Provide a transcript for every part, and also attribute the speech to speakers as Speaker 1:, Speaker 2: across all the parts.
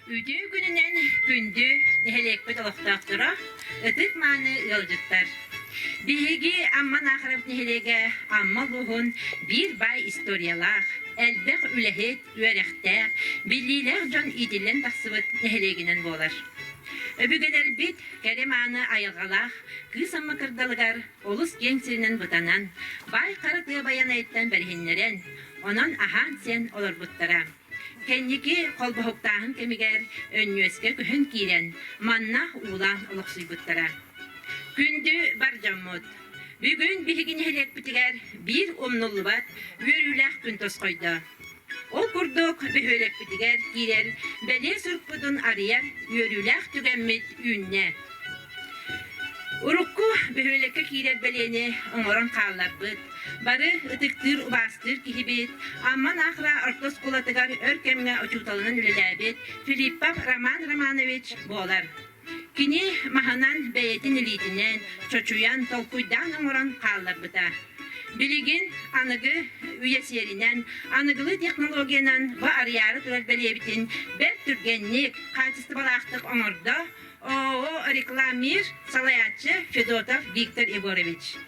Speaker 1: Үтүө күнүнэн күндү нэһилиэкпит олохтоохторо, ытык-мааны ыалдьыттар! Биһиги Амман Аахарабыт нэһилиэгэ Амма улууһун биир баай историялаах, элбэх үлэһит, үөрэхтээх, биллиилээх дьон иитиллэн тахсыбыт нэһилиэгинэн буолар. Өбүгэлэрбит кэрэ-мааны айылҕалаах кыыс Амма кырдалыгар Олус киэҥ сиринэн бытанан, баай хара тыа Байанайыттан бэриһиннэрэн, онон аһаан-сиэн олорбуттара. Кэнники холбоһуктааһын кэмигэр Өнньүөскэ көһөн киирэн, манна уулаан олохсуйбуттара. Күндү бар дьоммут! Бүгүн биһиги нэһилиэкпитигэр биир умнуллубат үөрүүлээх күн тосхойдо. Ол курдук, бөһүөлэкпитигэр киирэн бэлиэ сурукпутун арыйар үөрүүлээх түгэммит үүннэ. Урукку бөһүөлэккэ киирэр бэлиэни оҥорон хаалларбыт, бары ытыктыыр-убаастыыр киһибит, Амман Ахра орто оскуолатыгар өр кэмҥэ учууталынан үлэлээбит Филиппов Роман Романович буолар. Кини маһынан бэйэтин илиитинээн чочуйан, толкуйдаан оҥорон хаалларбыта. Билигин аныгы үйэ сиэринэн аныгылыы технологиянан бу арыйаары турар бэлиэбитин бэрт түргэнник, хаачыстыбалаахтык оҥордо ООО «Рекламир» салайааччы Федотов Виктор Егорович.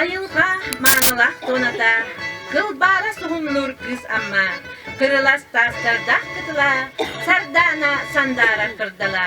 Speaker 1: Айылға маанылаах туната, кылбаара суһумнуур кыыс Амма, кырылас таастардаах кытыла, сардаана сандаара кырдала.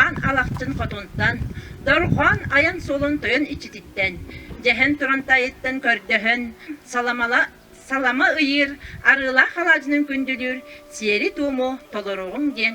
Speaker 1: аан алахчын хотунтан, дорҕоон айан суолун тойон иччититтэн, дьэһэн туран тайыттан көрдөһөн, саламала салама ыйыыр, арыылаах халаадьынын күндүлүүр сиэри-туому толоруоҕуҥ диэн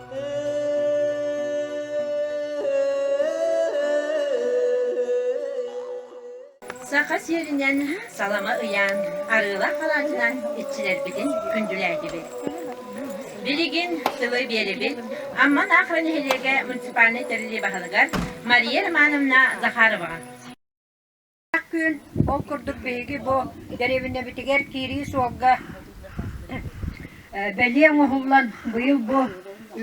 Speaker 1: Саха сиэринэн салама ыйаан, арыылаах алаадьынан иччилэрбитин күндүлээтибит. Билигин тылы биэрибит Амман Аахра нэһилиэгэ муниципальнай тэрилиэ баһылыгар Мария Романовна Захароваҕа.
Speaker 2: Күөл ол курдук биһиги бу дэриэбинэбитигэр киирии суолга бэлиэ оҥоһуллан быйыл бу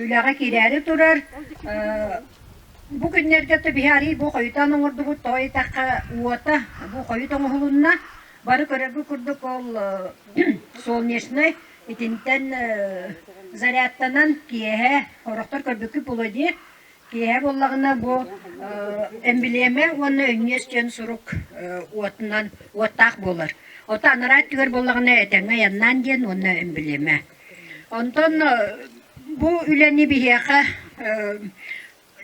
Speaker 2: үлэҕэ киирээри турар. Бу күннэргэ да биһи арыый бу хойутаан оҥордубут тоҕо диэтэххэ уота бу хойут оҥоһулунна. Бары көрөргө курдук ол солнечнай итинтэн зарядтанан киэһэ, орохтор көрбүккүт буолуо дии. Киэһэ буоллаҕына бу эн билиэмэ уонна өнньүөс диэн сурук уотунан уоттаах буолар. Ото анараа өттүгэр буоллаҕына этэҥҥэ айаннаан диэн уонна эн билиэмэ. Онтон бу үлэни биһиэхэ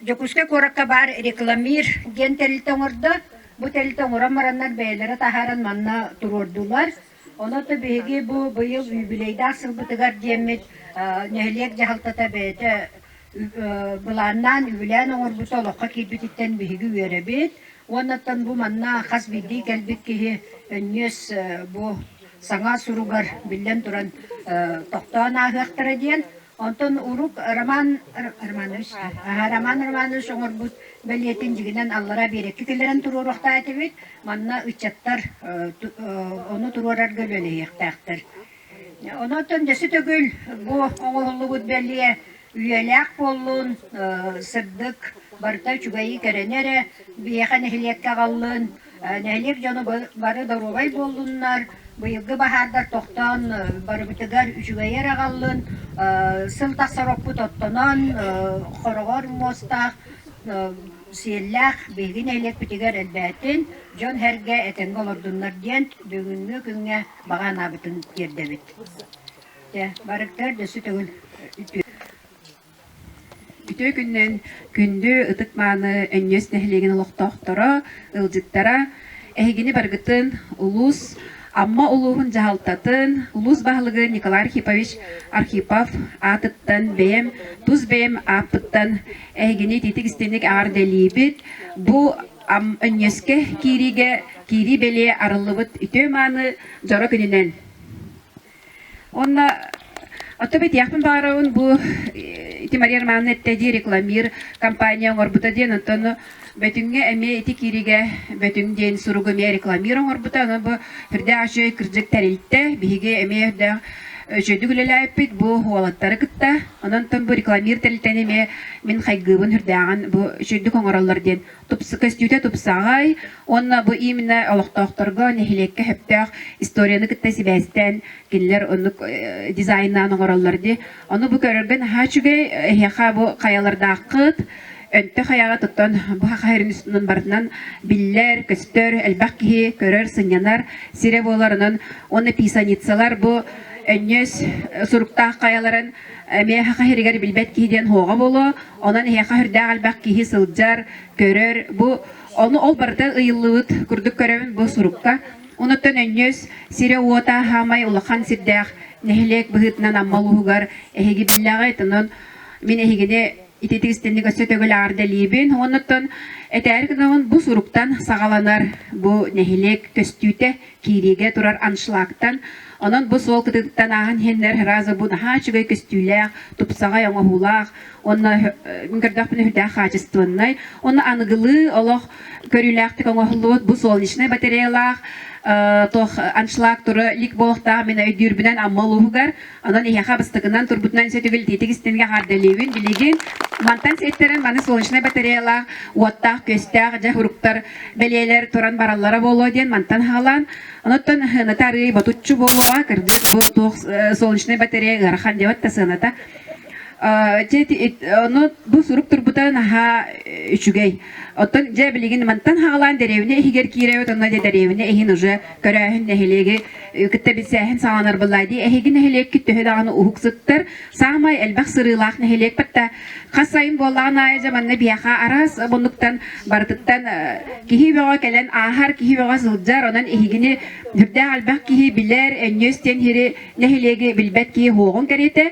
Speaker 2: Дьокуускай куоракка баар рекламир диэн тэрилтэ оҥордо. Бу тэрилтэ оҥорон бараннар бэйэлэрэ таһааран манна туруордулар. Онон биһиги бу быйыл юбилейдаах сылбытыгар диэммит нэһилиэк дьаһалтата бэйэтэ былааннаан, үбүлээн оҥорбута олоххо киирбититтэн биһиги үөрэбит. Уоннаттан бу манна хас биирдии кэлбит киһи өнньүөс бу саҥа суругар биллэн туран тохтоон ааһыахтара диэн Онтон урут Роман Романович аhaa Роман Романович оҥорбут бэлиэтин дьигинэн аллара биэрэкки киллэрэн туруоруохтаах этибит. Манна ыччаттар ону туруорарга үлэлэһиэхтээхтэр. Онон дьэси төгүл бу оҥоһуллубут бэлиэ үйэлээх буоллун, сырдык, барыта үчүгэйи кэрэни эрэ биһиэхэ нэһилиэккэ аҕаллын, нэһилиэк дьоно бары доруобай буоллуннар быйылгы баһаардар тохтоон барыбытыгар үчүгэйэр аҕаллын сыл тахсар оппут оттонон хороҕор муостаах сиэллээх биһиги нэһилиэкпитигэр элбээтин дьон сэргэ этэнгэ олордуннар диэн бүгүҥҥү күҥҥэ баҕа анаабытын тиэрдэбит барыктар дөссө төгүл
Speaker 3: Үтүө күнүнэн күндү ытык-мааны Өнньүөс нэһилиэгин олохтоохторо, ыалдьыттара! Эһигини барыгытын улуус Амма улууһун дьаһалтатын улуус баһылыгы Николай Архипович Архипов аатыттан бэйэм тус бэйэм ааппыттан эһигини итиитик-истиҥник эҕэрдэлиибит. Бу Өнньүөскэ киириигэ киирии-бэлиэ арыллыбыт үтүө-мааны дьоро күнүнэн! Онно Оттон битиэхпин баҕарабын бу ити Мария Романовна эттэ дии рекламир компания оҥорбута диэн оттон бөтүҥҥэ эмиэ ити кииригэ бөтүҥ диэн суругу эмиэ рекламир оҥорбута аны бу үрдэ ачай кырдьык тэрилтэ биһиги эмиэ үрдэ үчүгэйдик үлэлээппит бу уолаттары кытта онон тон бу рекламир тэрилтэни эмиэ мин хайгыыбын үрдээҕин бу үчүгэйдик оҥороллор диэн көстүүтэ тупсаҕай уонна бу именно олохтоохторго нэһилиэккэ сөптөөх историяны кытта сибээстээн кинилэр оннук дизайнаан оҥороллор дии ону бу көрөргө наһаа үчүгэй эһиэхэ бу хайалардааххыт өнтө хайаҕа туттан бу хаһайарын үстүнэн барытынан биллэр көстөр элбэх киһи көрөр сынньанар сирэ буолар онон уонна писаницалар бу өнньүөс суруктаах хайаларын эмиэ хаһайырыгар билбэт киһи диэн хоҕо буолуо Онон эһиэхэ үрдээх элбэх киһи сылдьар, көрөр. Бу ону ол барыта ыйыллыбыт курдук көрөбүн бу сурукка. Онуттан өнньүс сирэ-уота хаамай улахан сирдээх нэһилиэк быһыытынан Амма улууһугар эһиги биллэҕи тонун мин эһигини ити тигистэнник өссө төгүл аардэлиибин. Онуттан этээри гынаҕын бу суруктан саҕаланар бу нэһилиэк көстүүтэ киириигэ турар аншлагтан, онон бу суол кытыыттан ааһан иһэннэр сразу бу наһаа үчүгэй көстүүлээх, тупсаҕай оҥоһуулаах, онно мин көрдөхпүнэ үрдээх хаачыстыбаннай, онно аныгылыы олох көрүүлээхтик оҥоһуллубут бу солнечнай батареялаах туох аншлаг тура лик буолахтаах мин өйдүүрбүнэн Амма улууһугар Онон эһиэхэ бастакынан турбутунан сөтүгүл тиитик истингэ хаардалыыбын. Билигин мантан сиэттэрэн маны солнечнай батареялаах, уоттаах, күөстээх дьэ уруктар бэлиэлэр туран бараллара буолуо диэн мантан хаалан. Онуттан сыаната арыый ботуччу буолуоҕа, кырдьык бу туох солнечнай батарея ыарахан диэбэт да сыаната. Ону бу сурук турбута наһаа үчүгэй. Оттон дьэ билигин мантан хаалаан деревня иһигэр киирэбит, онно деревня иһин уже көрөөһүн нэһилиэги кытта билсээһин саҕаланар быллаа дии эһиги нэһилиэккит төһө даҕаны уһук сыттар саамай элбэх сырыылаах нэһилиэкпит да хас сайын буоллаҕын аайы дьэ манна биһиэхэ араас муннуктан барытыттан киһи бөҕө кэлэн ааһар киһи бөҕө сылдьар онон эһигини үрдээх элбэх киһи билэр өнньүөс диэн иһири нэһилиэги билбэт киһи уоҕун кэриэтэ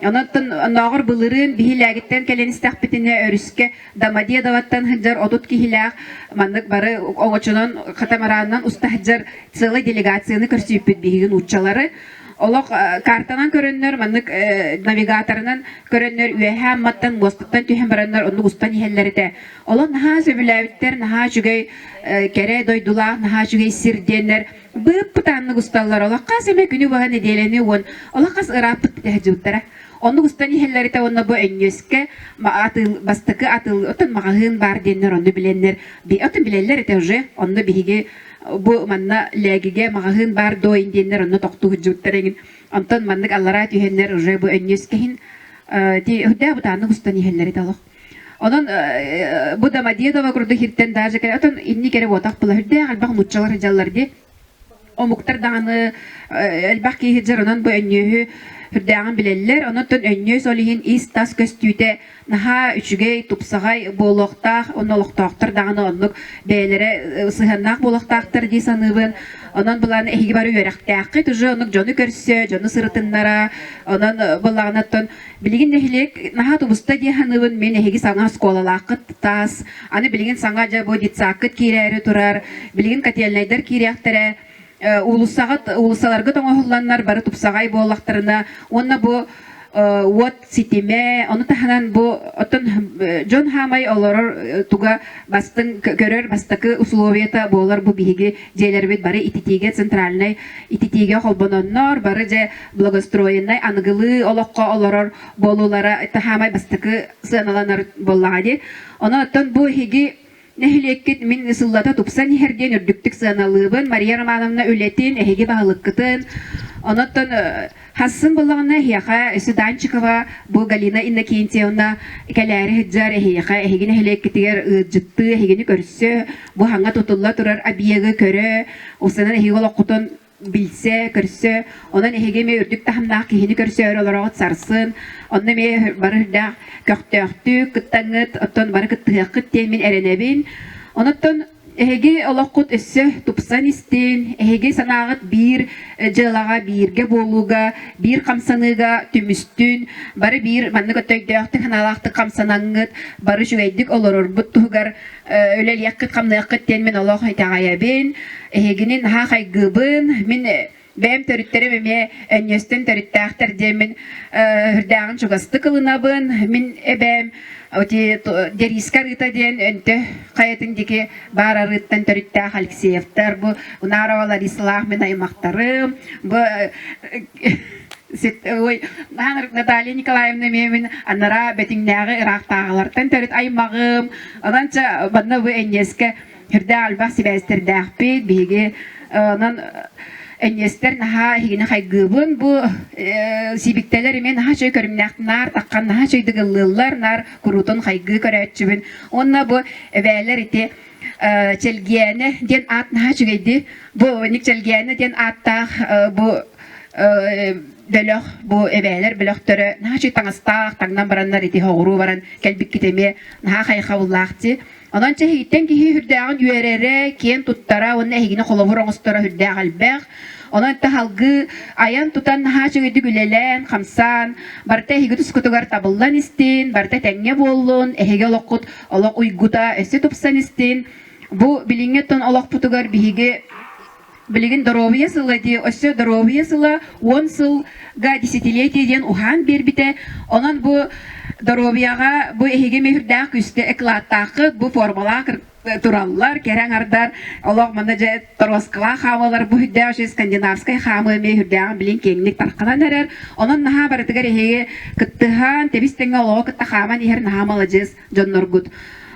Speaker 3: Онон оннооҕор былырыын биһи лээгиттэн кэлэн истэхпитинэ өрүскэ Домодедоваттан сылдьар отут киһилээх маннык бары оҥочонон катамаранынан уста сылдьар целый делегацияны көрсүппүт биһиги нууччалары. Олох картанан көрөннөр, маннык навигаторынан көрөннөр үөһэ амматтан мостуттан түһэн бараннар оннук устан иһэллэритэ. Олон наһаа сөбүлээбиттэр, наһаа үчүгэй кэрэ дойдулаах, наһаа үчүгэй сир диэннэр быып пытааннык усталлар. Олохха сэмэ күнү баһа нэдиэлэни уон олоххас ырааппыт тиһэ Оннук ыстан иһэллэритэ уонна бу энньүөскэ атыыл бастакы атыыл оттон маҕаһыын баар диэннэр онну билэннэр оттон билэллэр этэ уже онно биһиги бу манна лээгигэ маҕаһыын баар дойн диэннэр онно тохтуһудьууттар эҥин онтон маннык аллараа түһэннэр уже бу өнньүөскэһин ти үрдээ бутааннык устан иһэллэри талох Онон э, э, бу да Мадедова курдук хиртен даже кэрэ отон инни кэрэ буотах пыла үрдээх альбах муччалар дьаллар де омуктар даҕаны элбэх киһи дьоронон бу өнньүөһү үрдээҕин билэллэр. Онуттан өнньүөс ол иһин ис-тас көстүүтэ наһаа үчүгэй, тупсаҕай буолуохтаах. Онно олохтоохтор даҕаны оннук бэйэлэрэ сыһыаннаах буолуохтаахтар дии саныыбын. Онон былаан эһиги бары үөрэхтээххит, уже оннук дьону көрсө, дьону сырытыннара. Онон былаҕынаттан Билигин нэһилиэк наһаа тубуста диэн саныыбын. Мин эһиги саҥа оскуолалааххыт таас, аны билигин саҥа дьэ бу детсаккыт киирээри турар, билигин котельнайдар киириэхтэрэ, э, уулуссаҕа уулуссаларга тоҥоһулланнар бары тупсаҕай буоллахтарына уонна бу э, уот ситимэ, ону таһынан бу оттон э, дьон хаамай олорор туга бастыҥ көрөр бастакы условията буолар бу биһиги дьиэлэрбит бары ититиигэ центральнай ититиигэ холбононнор бары дьэ благоустроеннай аныгылыы олоххо олорор буолуулара таһаамай бастакы сыаналанар буоллаҕа дии. Ону оттон бу эһиги нэһилиэккит мин сыллата тупсан иһэр диэн үрдүктүк сыаналыыбын. Мария Романовна үлэтин, эһиги баһылыккытын, онон хассын буллаҕына эһиэхэ Суданчикова бу Галина Иннокентьевна кэлээри сылдьар эһиэхэ эһиги нэһилиэккитигэр ыалдьыттыы эһигини көрсө бу хаҥа тутулла турар объегы көрө устанан эһиги олоххутун билсэ, көрсө, онон эһиги эмиэ үрдүк таһымнаах киһини көрсөөрү олороҕут сарсын, онно эмиэ бары үрдээх көхтөөхтүк кыттаҥыт, оттон бары кыттыһыаххыт диэн мин эрэнэбин. Онуттан эһиги олоххут өссө тупсан истин, эһиги санааҕыт биир дьыалаҕа, бииргэ буолууга, биир хамсаныыга түмүстүн, бары биир маннык өттөйдөөхтүк, санаалаахтык хамсанаҥҥыт, бары үчүгэйдик олорорбут туһугар үлэлиэххит хамныаххыт диэн мин олох итэҕэйэбин эһигини наһаа хайгыыбын мин бэйэм төрүттэрим эмиэ өнньүөстэн төрүттээхтэр диэн мин үрдээҕин чугастык ылынабын мин эбээм Дериска Рыта диэн өнтө хайатын дики баар арыыттан төрүттээх Алексеевтар бу Унарова Ларисалаах мен аймақтарым бу ой Наталья Николаевна мемин анара бэтиҥнээҕи ыраахтааҕылартан төрүт аймағым Ононча манна бу энниэскэ үрдээх альбах сибээстэрдээхпит. Биһиги онон энниэстэр наһаа эһигини хайгыыбын. Бу сибиктэлэр имин наһаа үчүгэй көрүмнээх наар таххан наһаа үчүгэй дыгыллыыллар наар куруутун хайгыы көрөөччүбүн. Онно бу эбээлэр ити Чэлгиэнэ диэн аат наһаа үчүгэйди. Бу Ник Чэлгиэнэ диэн ааттаах бу бөлөх, бу эбээлэр бөлөхтөрө наһачы таҥастаах, таҥнан бараннар ити оҕуруу баран кэлбиккит эмиэ наһаа хайхаллаах дии. Онон чэһигиттэн киһи үрдээҕин үөрэрэ, киэн туттара уонна эһигини холобур оҥосторо үрдээх элбэх. Онон таһалгы айан-тутан наһаа үгүдүк үлэлээн, хамсаан, барыта эһиги тускутугар табыллан истин, барыта тэҥҥэ буоллун, эһиги олоххут олох уйгута өссө тупсан истин. Бу билиҥҥи тон олохпутугар биһиги Билигин доруобуйа сыла диye өссө доруобуйа сыла уон сылга десятилетие диэн уһаан биэрбитэ. Онон бу доруобуйаҕа бу эһиги мөһүрдээх күстэ эклааттааххыт бу формула тураллар, кэрэ аңардар олох мана же тороскалаа хаамалар бу хүддээх үчү скандинавскай хаамы мөһүрдээҕин билин кеңник тарқанан эрэр. Онон наһаа барытыгар эһиги кыттыһаан, тэбис тэҥэ олоҕу кытта хааман иһэр наһаа маладьыс. дьонноргут.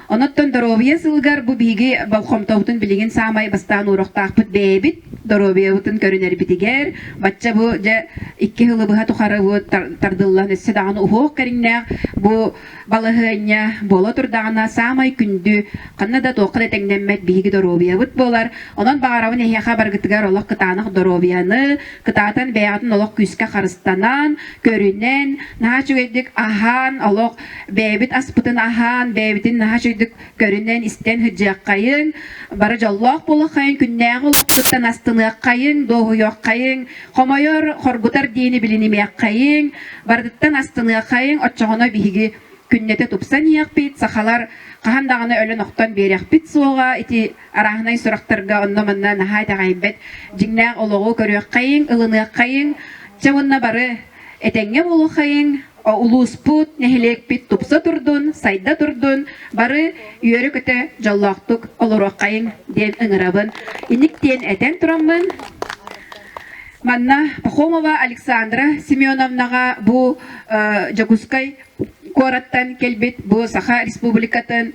Speaker 3: Оноттон доруобуйа сылыгар бу биһиги болхомтобутун билигин саамай бастаан уурахтаахпыт бэйэбит доруобуйабытын көрүнэрбитигэр бачча бу дьэ икки хылы быһа тухары бу тардыллан өссө даҕаны уһуох кэриҥнээх бу балаһыанньа буола турдаҕына саамай күндү ханна да туохха да тэҥнэммэт биһиги доруобуйабыт буолар онон баҕарабын эһиэхэ барыгытыгар олох кытаанах доруобуйаны кытаатан бэйэҕитин олох күүскэ харыстанан көрүнэн наһаа үчүгэйдик аһаан олох бэйэбит аспытын аһаан, бэйэбитин наһаа чөйдүк көрүнэн, истэн сыдьыаххайын, бары дьоллоох буолаххайын, күннээҕи олохпутуттан астыныаххайын, дуоһуйуоххайын, хомойор, хоргутар диэни билинимиэххайын, барытыттан астыныаххайын, оччоҕуна биһиги күннэтэ тупсан иэхпит, сахалар хаһан даҕаны өлөн-охтон биэриэхпит суоҕа. Ити арааһынай сурахтарга онно-манна наһаа итэҕэйбэт дьиҥнээх олоҕу көрүөххэйиҥ, ылыныаххайыҥ. Чэ уонна бары этэҥҥэ буолуоххайыҥ, Улууспут, нэһилиэкпит тупса турдун, сайда турдун, бары үөрэ-көтө дьоллоохтук олоруоххайыҥ диэн ыҥырабын. Иник диэн этэн тураммын, манна Пахомова Александра Семеновнаҕа бу э, Дьокуускай куораттан кэлбит бу Саха Республикатын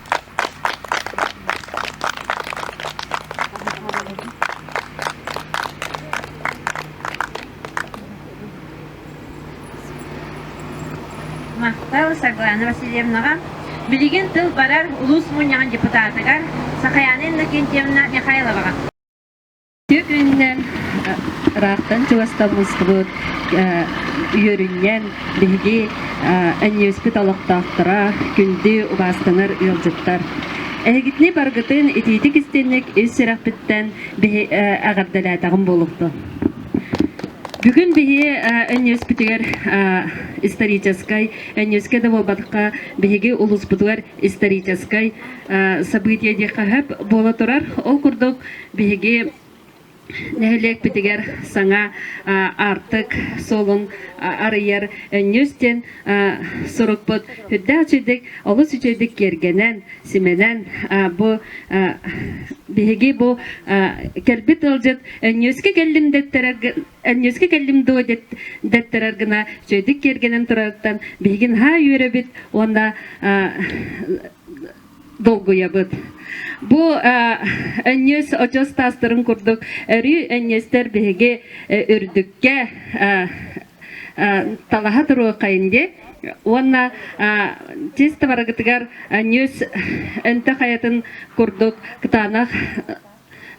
Speaker 1: Махтал Саргылана Васильевнаҕа, билигин тыл барар улуус мунньаҕын депутатыгар Сахаяна Иннокентьевна Михайловаҕа.
Speaker 4: Үөрүннэн, ыраахтан чугастаммыспыт үөрүнньэн биһиги эньиэспит олохтоохторо күндү убаастанар ыалдьыттар. Эһигитини баргытын итиитик истинник ис сүрэхпиттэн эҕэрдэлээтэҕим буолуохтун. Бүгүн биһи өнньүөспүтүгэр историческай, өнньүөскэ да буолбатахха, биһиги улууспутугар историческай событие диэххэ сөп буола турар. Ол курдук, Биһиги нэһилиэкпитигэр саҥа аартык суолун арыйар өнньүс диэн сурукпут үрдээх үчүгэйдик олус үчүгэйдик киэргэнэн, симэнэн бу биһиги бу кэлбит ыалдьыт өнньүөскэ кэллим дэттэрэр өнньүөскэ кэллим дуо дэттэрэр гына үчүгэйдик киэргэнэн турарыттан биһиги наһаа үөрэбит уонна долгуйабыт бу энньиэс очос таастарын курдук өрүү энньиэстэр биһиги үрдүккэ талаһа туруоххайын дии уонна чисто барыгытыгар энньиэс өнтө хайатын курдук кытаанах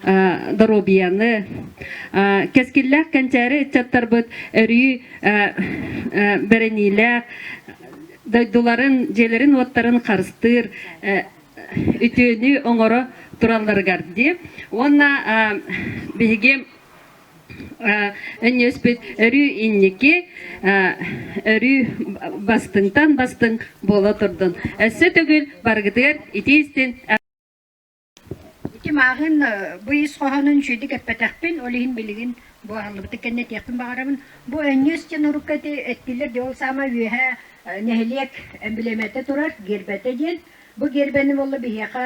Speaker 4: доруобуйаны кэскиллээх кэнчээри ыччаттарбыт өрүү бэриниилээх дойдуларын дьиэлэрин-уоттарын харыстыыр үтүөнү оҥоро туралларыгар диэм уонна биһиги өнньүөспүт өрүү инники өрүү бастыҥтан бастыҥ буола турдун өссө төгүл барыгытыгар итии истин Ити
Speaker 2: мааһын бу ис хоһоонун үчүгэйдик эппэтэхпин, ол иһин билигин бу аһыллыбытын кэннэ этиэхпин баҕарабын. Бу Өнньүөс диэн урукку эти эттилэр диэн, ол саамай үөһэ нэһилиэк эмблемэтэ турар гербэтэ диэн. Бу гербэни буолла биһиэхэ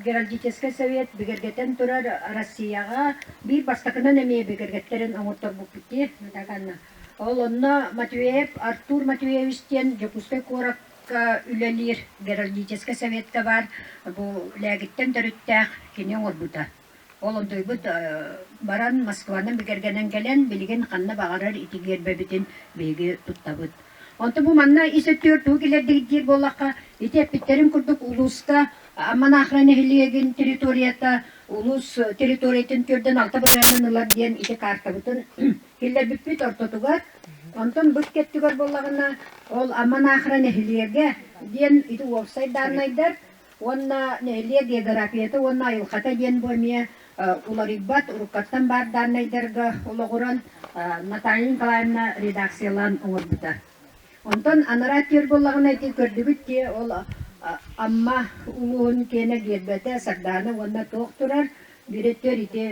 Speaker 2: Геральдическай Совет бигэргэтэн турар Арассыыйаҕа биир бастакынан эмиэ бигэргэттэрэн оҥорторбуппут дии. Так анна. Ол онно Матвеев Артур Матвеевич диэн Дьокуускай куорат үлэлиир геральдическай сэбиэттэ баар бу лээгиттэн төрүттээх кини оҥорбута. Ол ордуйбут баран Москванан бигэргэнэн кэлэн билигин ханна баҕарар ити гиэрбэбитин биһиги туттабыт. Онтон бу манна ис өттүгэр тугу килэрдигиттиир буоллахха ити эппиттэрин курдук улууска Амманахра нэһилиэгин территорията улуус территориятын түөрдэн алта бырайыанын ылар диэн ити каартабытын Киллэрбиппит ортотугар, онтон быт кэттигэр буоллаҕына, ол Аман Аахра нэһилиэгэ, диэн ити уопсай дааннайдар уонна нэһилиэк географията уонна айылҕата диэн бу эмиэ уларыйбат уруккаттан баар дааннайдарга олоҕуран Наталья Николаевна редакциялаан оҥорбута. Онтон анараа тиэр буоллаҕына ити көрдүбүт дии ол Амма улууһун киэнэ биэрбэтэ Сардаана уонна туох турар Дириэктэр ити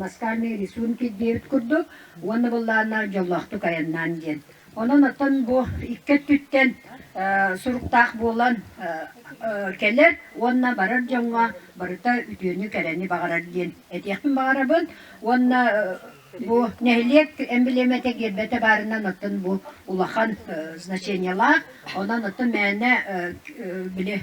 Speaker 2: ласкарные рисунки диэбит курдук уонна быллааннаах дьоллоохтук айаннаан диэн. Онон оттон бу икки өттүттэн суруктаах буолан кэлэр уонна барар дьоҥҥо барыта үтүөнү кэрэни баҕарар диэн этиэхпин баҕарабын уонна бу нэһилиэк эмблемэтэ гербэтэ баарынан оттон бу улахан значениелаах онон оттон мээнэ били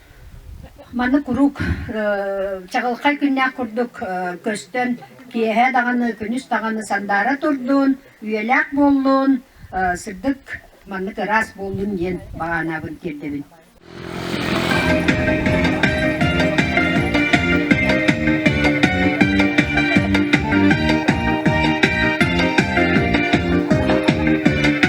Speaker 2: Маны куруук чаҕылхай күннээх курдук көстөн, киэһэ даҕаны, күнүс даҕаны сандаара турдун, үйэлээх буоллун, сырдык маннык ыраас буоллун диэн баҕанаабын тиэрдэбин.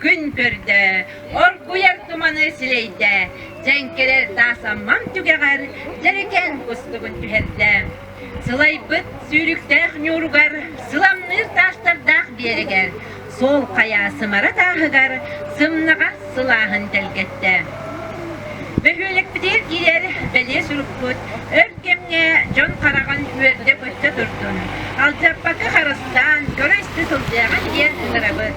Speaker 1: Күн көрдө, оргуйар туманы силэйдэ, дьэҥкэрэр таасаммам түгэҕэр дьэрэкээн кустугун түһэрдэ. Сылайбыт сүүрүктээх ньууругар, сыламныыр таастардаах биэрэгэр, суол хайа сымара тааһыгар сымнаҕас сылааһын тэлгэттэ. Бөһүөлэкпитигэр киирэр бэлиэ сурукпут өр кэмҥэ дьон хараҕын үөрдэ-көттө турдун, алдьаппакы харыстаан көрө-истэ сылдьаҕын диэн ынырабыт.